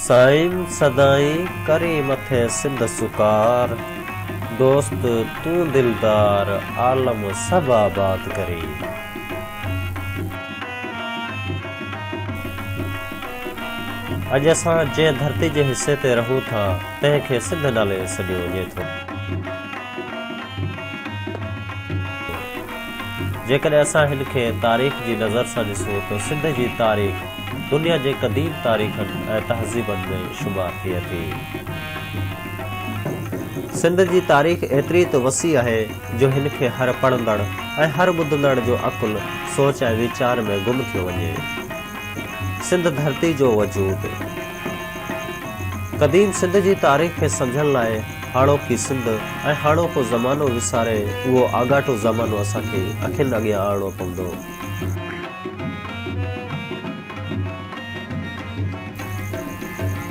سائين سدائين ڪرين مٿي سنڌ سڪار، دوست تون دلدار عالم سڀ آباد ڪرين. اڄ اسان جنهن ڌرتي جي حصي تي رهون ٿا تنهن کي سنڌ نالي سڏيو وڃي ٿو. جيڪڏهن اسان هن کي تاريخ جي نظر سان ڏسون ته سنڌ جي تاريخ دنيا جي قديم تاريخن ۽ تهذيبن ۾ شمار ٿئي ٿي. سنڌ جي تاريخ ايتري ته وسيع آهي جو هن کي هر پڙهندڙ ۽ هر ٻڌندڙ جو عقل سوچ ۽ ويچار ۾ گم ٿيو وڃي. سنڌ ڌرتي جو وجود. قديم سنڌ جي تاريخ کي سمجهڻ لاء هاڻوڪي سنڌ ۽ هاڻوڪو زمانو وساري اهو آڳاٽو زمانو اسان کي اکين اڳيان آڻڻو پوندو.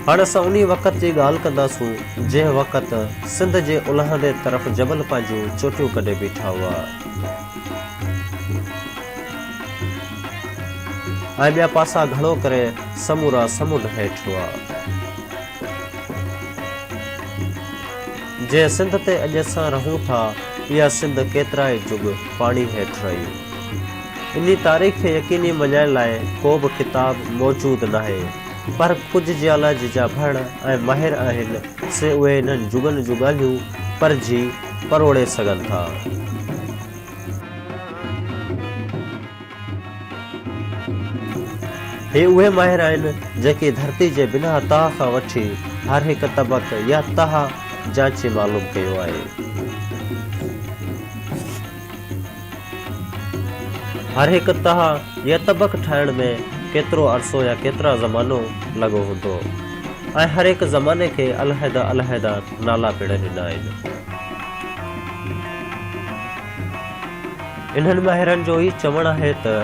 هاڻ اسان انهي وقت جي ڳالهه ڪنداسون جنهن وقت سنڌ جي الهندي طرف جبل پنهنجون چوٽيون ڪڍي بيٺا هئا. ۽ ٻيا پاسا گهڻو ڪري سمورا سمنڊ هيٺ هئا. جنهن سنڌ تي اڄ اسان رهون ٿا، اها سنڌ ڪيترائي جڳ پاڻي هيٺ رهي. انهي تاريخ کي يقيني مڃائڻ لاء ڪو به ڪتاب موجود ناهي، پر ڪجهه جيالاجي جا ڀڻ ۽ ماهر آهن، سي اهي انهن جڳن جون ڳالهيون پرجهي، پروڙي سگهن ٿا. هي اهي ماهر آهن جيڪي ڌرتي جي بناء تاء کان وٺي هر هڪ طبق يا تهه جانچي معلوم ڪيو آهي. هر هڪ تهه يا طبق ٺاهڻ ۾ ڪيترو عرصو يا ڪيترا زمانو لڳو هوندو ۽ هر هڪ زماني کي علحده علحده نالا پڻ ڏنا آهن. انهن ماهرن جو ئي چوڻ آهي ته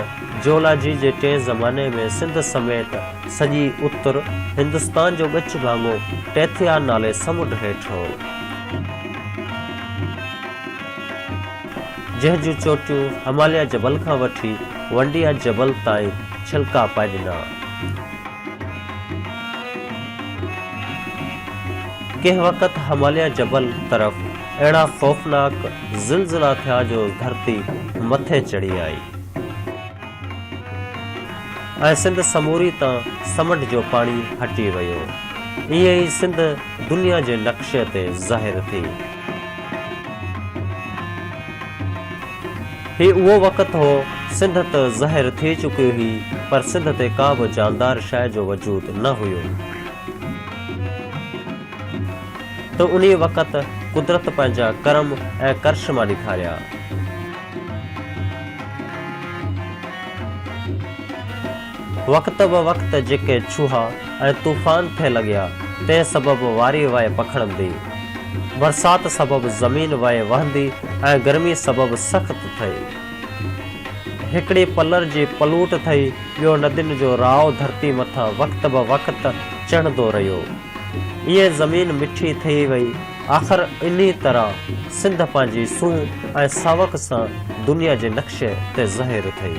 جيولاجي جي ٽئين زماني ۾ سنڌ سميت سڄي اتر هندستان جو ڳچ ڀاڱو ٽيٿيا نالي سمنڊ هيٺ هو. جنهن جون چوٽيون هماليه جبل کان وٺي ونڊيا جبل تائين ڇلڪا پائي ڏنا. ڪنهن وقت هماليه جبل طرف اهڙا خوفناڪ زلزلا ٿيا جو ڌرتي مٿي چڙهي آئي ۽ سنڌ سموري تان سمنڊ جو پاڻي هٽي ويو. ائين ئي سنڌ دنيا جي نقشي تي ظاهر ٿي. هي اهو وقت هو، سنڌ ته زهر ٿي چڪي هئي، پر سنڌ تي ڪا به جاندار شيء جو وجود نه هيو. ته انهيء وقت قدرت پنهنجا ڪرم ۽ ڪرشما ڏيکاريا. وقت به وقت جيڪي ڇوها ۽ طوفان ٿي لڳيا، تنهن سبب واري وئي پکڙندي. برسات سبب زمين وئي وهندي ۽ گرمي سبب سخت ٿئي. هڪڙي پلر جي پلوٽ ٿئي، ٻيو ندين جو راء ڌرتي مٿان وقت به وقت چهندو رهيو. ائين زمين مٺي ٿئي وئي. آخر انهيء طرح سنڌ پنهنجي سونهن ۽ ساوڪ سان دنيا جي نقشي تي ظاهر ٿئي.